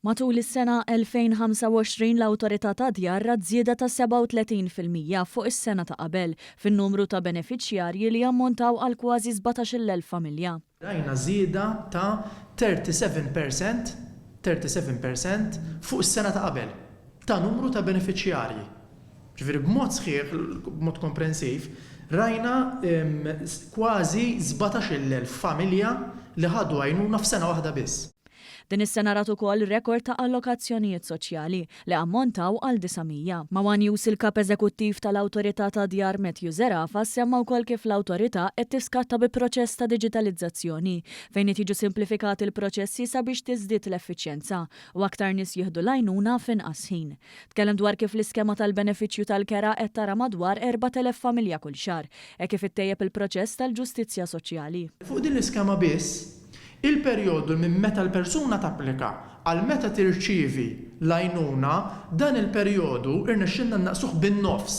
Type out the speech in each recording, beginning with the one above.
Matul is-sena 2025 l-Awtorità tad-Djar rat żieda ta' 37 fil-mija fuq is-sena ta' qabel fin-numru ta' benefiċjarji li jammontaw għal kważi 17-il elf familja. Rajna żieda ta' 37 per cent, 37 per cent, fuq is-sena ta' qabel ta' numru ta' benefiċjarji. Ġifieri b'mod sħiħ, b'mod komprensiv, rajna kważi 17-il elf familja li ħadu għajnuna f'sena waħda biss. Din is-sena rat ukoll rekord ta' allokazzjonijiet soċjali, li ammontaw għal 900. Ma' one News il-Kap Eżekuttiv tal-Awtorità tad-Djar Matthew Zerafa semma wkoll kif l-Awtorità qed tiskatta bi proċess ta' diġitalizzazzjoni fejn qed jiġu simplifikati l-proċessi sabiex tiżdied l-effiċjenza u aktar nies jieħdu l-għajnuna f'inqas ħin. Tkellem dwar kif l-iskema tal-benefiċċju tal-kera qed tara madwar 4,000 familja kull xahar hekk kif ittejjeb il-proċess tal-ġustizzja soċjali. Fuq din l-iskema biss, Il-perjodu minn meta l-persuna tapplika għal meta tirċievi l-għajnuna, dan il-perjodu rnexxielna nnaqqsuh bin-nofs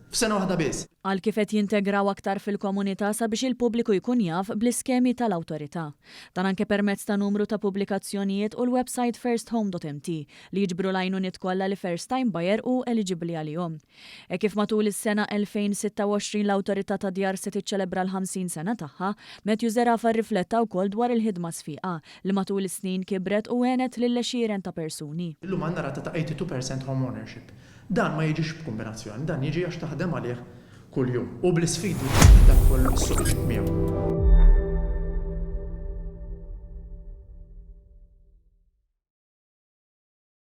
f'sena waħda biss. Qal kif qed jintegraw aktar fil-komunità sabiex il-pubbliku jkun jaf bl-iskemi tal-Awtorità. Dan anke permezz ta' numru ta' pubblikazzjonijiet u l-websajt firsthome.mt li jiġbru l-għajnuniet kollha li first-time buyer hu eliġibbli għalihom. Hekk kif matul is-sena 2026 l-Awtorità tad-Djar se tiċċelebra l-50 sena tagħha, Matthew Zerafa rrifletta wkoll dwar il-ħidma sfiqa, li matul is-snin kibret u għenet lil għexieren ta' persuni. Illum għandna rata ta' 82 per cent home ownership. Dan ma jiġix b'kumbinazzjoni, dan jiġi għax taħdem għalih kuljum u bl-isfidi li fih dak kollu li s-suq iġib miegħu.